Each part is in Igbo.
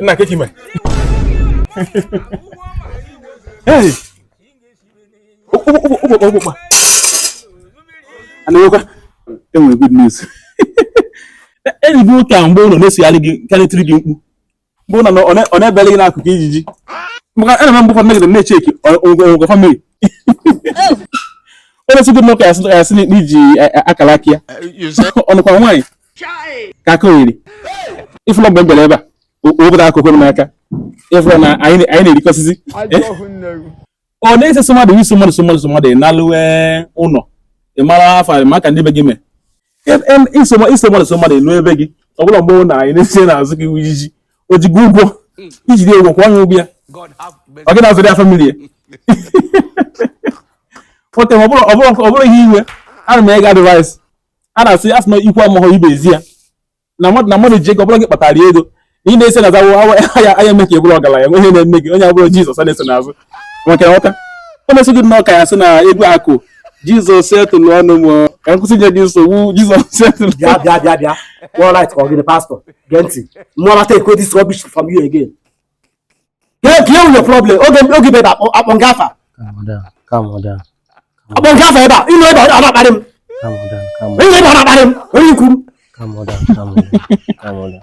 nna kee ka ị me ụgbọkpa anawekwa enwere good news erigo ụka mgbe ụlọ na-esogharị gị karịtịrị gị mkpu mgbe ụlọ ọ na-ebere gị n'akụkụ ijiji maka ana m mgbe ụfọdụ megide na-echeki ọgwụgwọ family onye sị gị nwoke asị n'iji akara aka ya ọnụkwa nwaanyị ka aka oyiri ịfụla mgbe m bịara ebe a obodo akụkụ m n'aka ịfụla na anyị na-erikọsịzi ọ na-ese so mmadụ iso mmadụ so mmadụ so mmadụ na-alụwe ụlọ ị mara afọ maka ndị be gị mee iso mmadụ so mmadụ elu ebe gị ọ bụrọ mgbe na anyị na-eso n'azụ gị ijiji o ji gị ụgwọ iji dị ụgwọ kwụọ ya ụgwọ ya ọ gị na-azụrụ ya family ya ote ọ bụrụ ihe iwe ana m enye gị advice a na-asị asị na ikwu amaghọ ibe ezi ya na mmadụ na mmadụ ji ego ọ bụrọ gị kpatara ego na ị na-ese na zawo aya aya eme ka ị bụrụ ọgaranya nwe ihe na-eme gị onye ọ bụrọ jizọs a na-eso n'azụ maka na ọka o na-eso gị nnọọ ka ya sị na ego akụ jizọs setụlụ ọnụ m ka nkwụsị nye gị nsogbu jizọs setụlụ bịa bịa bịa bịa all right ka ọ gịnị pastor gee ntị mụ ama take this rubbish from you again Kedụ your problem. Okay, okay, baby. Upon Gaffa. Calm down. Calm down. Upon Gaffa, eba. You know about about about him. Calm down. Calm down. You know about about him. Where you come? Calm down. Calm down. Calm down.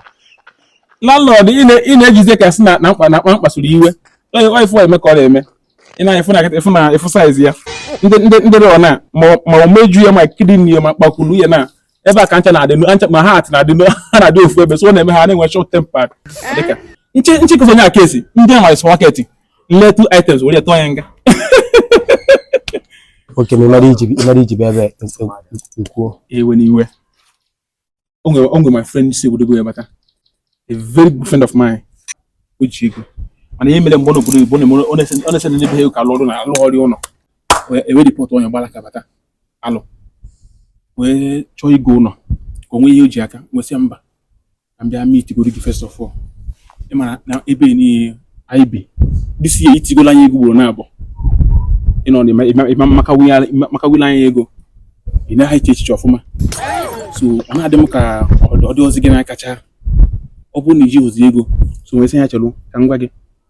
Landlord, ị na ị na-ejize ka si na na mkpa na mkpa mkpasuru iwe. Onye onye fụ eme ka ọ na-eme. Ị na-afụ na-afụ na-afụ size ya. Ndị ndị ndị rọ na ma ma imeju ya ma kidney ya ma kpakulu ya na ebe a ka ncha na-adị ncha ma heart na-adị ha na-adị ofu ebe so ọ na-eme ha na-enwe short temper dịka nche nche kụzọ onye aka esi ndị a nwere supermarket na-ele two items were tụọ ya nga okay ma ịmara iji ịmara iji bịa ebe nkwuo ewe n'iwe o nwere o nwere my friend si obodo oyibo bata a very good friend of mine o ji ego mana ihe mere mgbe ọ nọ obodo oyibo ọ na-ese ndị be ha ka alụ ọrụ na alụ ọrụ ụlọ e wee report onye gbara aka bata alụ wee chọọ igo ụlọ ka o nwee ihe o ji aka nwe sị mba ka m bịa meetigoro gị first of all ị mara na ebe niile anyị bi this year itigola anyị ego gboro na-abụ ịnọ ịma makawila anyị ego ị naghị eche echiche ọfụma so ọ na-adị m ka ọ dịrọzi gị na-akacha ọ bụrụ na i jirọzi ego so m wee sị ya chelu ka m gwa gị